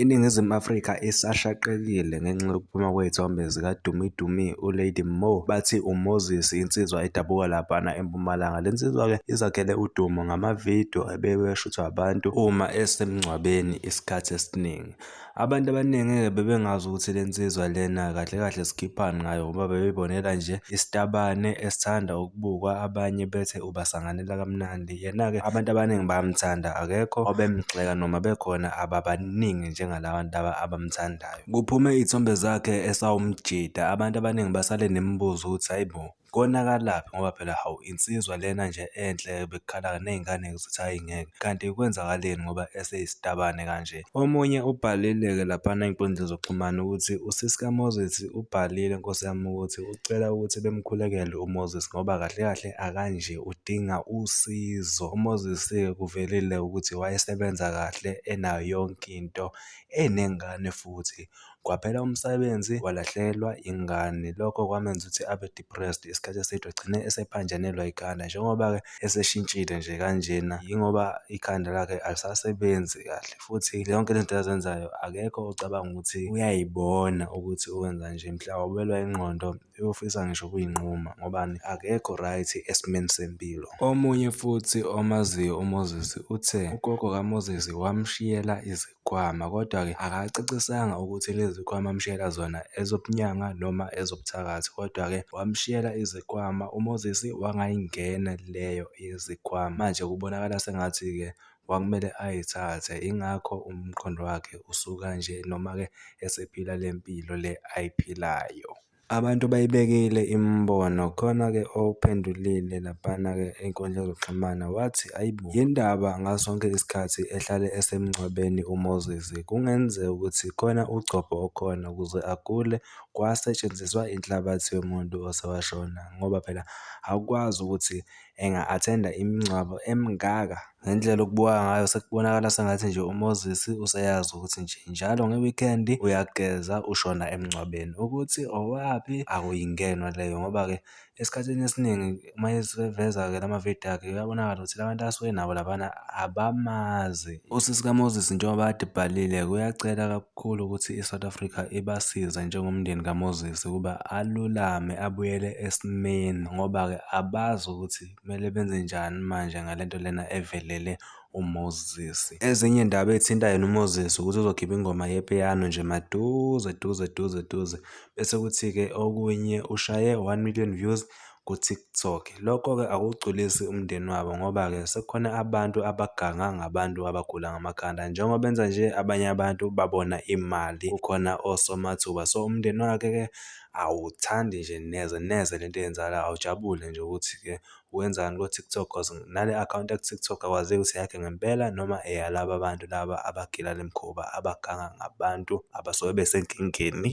INingizimu Afrika isashaqekile ngenxa yokuphuma kwezithombe zikaDumi Dumi uLady Mo bathi uMoses insizwa edabuka laphana eMpumalanga. Le nsizwa-ke izakhele udumo ngamavidiyo ebeweshuthwa abantu uma esemngcwabeni isikhathi esiningi. Abantu abaningi-ke bebengazi ukuthi le nsizwa lena kahle kahle sikhiphani ngayo ngoba bebebonela nje isitabane esithanda ukubukwa abanye bethe ubasanganela kamnandi. Yena-ke abantu abaningi bayamthanda, akekho obemgxeka noma bekhona ababaningi njengala bantu laba abamthandayo. Kuphume iy'thombe zakhe esawumjida, abantu abaningi basale nemibuzo ukuthi hhayi bo, konakalaphi ngoba phela hawu insizwa lena nje enhle bekukhala ney'ngane zithi hhayi ngeke, kanti kwenzakaleni ngoba eseyisitabane kanje. Omunye ubhalile-ke laphana ey'nkundleni zokuxhumana ukuthi usisi kaMoses ubhalile nkosi yami ukuthi ucela ukuthi bemkhulekele uMoses ngoba kahle kahle akanje. udinga usizo. UMoses-ke kuvelile ukuthi wayesebenza kahle enayo yonke into, enengane futhi. Kwaphela umsebenzi, walahlekelwa ingane. Lokho kwamenza ukuthi abe depressed isikhathi eside, wagcine esephanjanelwa ikhanda. Njengoba-ke eseshintshile nje kanjena, yingoba ikhanda lakhe alisasebenzi kahle, futhi yonke le zinto azenzayo akekho ocabanga ukuthi uyayibona ukuthi uwenza nje. Mhlawumbe ubelwa ingqondo, uyofisa ngisho ukuyinquma ngobani akekho right esimeni sempilo. Omunye futhi omaziyo uMoses uthe ugogo kaMoses wamshiyela izikhwama kodwa-ke akacacisanga ukuthi lezi zikhwama amshiyela zona ezobunyanga noma ezobuthakathi kodwa-ke wamshiyela izikhwama uMoses wangayingena leyo yezikhwama. Manje kubonakala sengathi-ke kwakumele ayithathe ingakho umqondo wakhe usuka nje noma-ke esephila le mpilo le ayiphilayo. Abantu bayibekile imibono khona-ke ophendulile laphana-ke ey'nkundleni zokuxhumana wathi ayi bo yini ndaba ngaso sonke isikhathi ehlale esemngcwabeni uMoses kungenzeka ukuthi khona ugcobho okhona ukuze agule kwasetshenziswa inhlabathi yomuntu osewashona ngoba phela awukwazi ukuthi enga-athenda imingcwabo emingaka. Ngendlela okubuka ngayo sekubonakala sengathi nje uMoses useyazi ukuthi nje njalo nge-weekend uyageza ushona emngcwabeni. Ukuthi owaphi akuyingenwa leyo ngoba-ke esikhathini esiningi uma eseveza-ke la mavidiyo akhe kuyabonakala ukuthi la bantu asuke nabo labana abamazi. Usisi kaMoses njengoba adibhalile kuyacela kakhulu. Kukhulu ukuthi iSouth Africa ibasize njengomndeni kaMoses ukuba alulame abuyele esimeni ngoba-ke abazi ukuthi kumele benze njani manje ngale nto lena evelele uMoses. Ezinye iy'ndaba ey'thinta yena uMoses ukuthi uzokhipha ingoma yepiyano nje maduze duze duze duze bese kuthi-ke okunye ushaye one million views ku-TikTok. Lokho-ke akuwugculisi umndeni wabo ngoba-ke sekukhona abantu abaganga ngabantu abagula ngamakhanda. Njengoba benza nje abanye abantu babona imali kukhona osomathuba. So umndeni wakhe-ke awuthandi nje neze neze le nto eyenzakalayo awujabule nje ukuthi-ke wenzani ko-TikTok cause nale akhawunti yaku-TikTok akwazeki ukuthi eyakhe ngempela noma eyalaba bantu laba abagila le mikhuba abaganga ngabantu abasuke besenkingeni.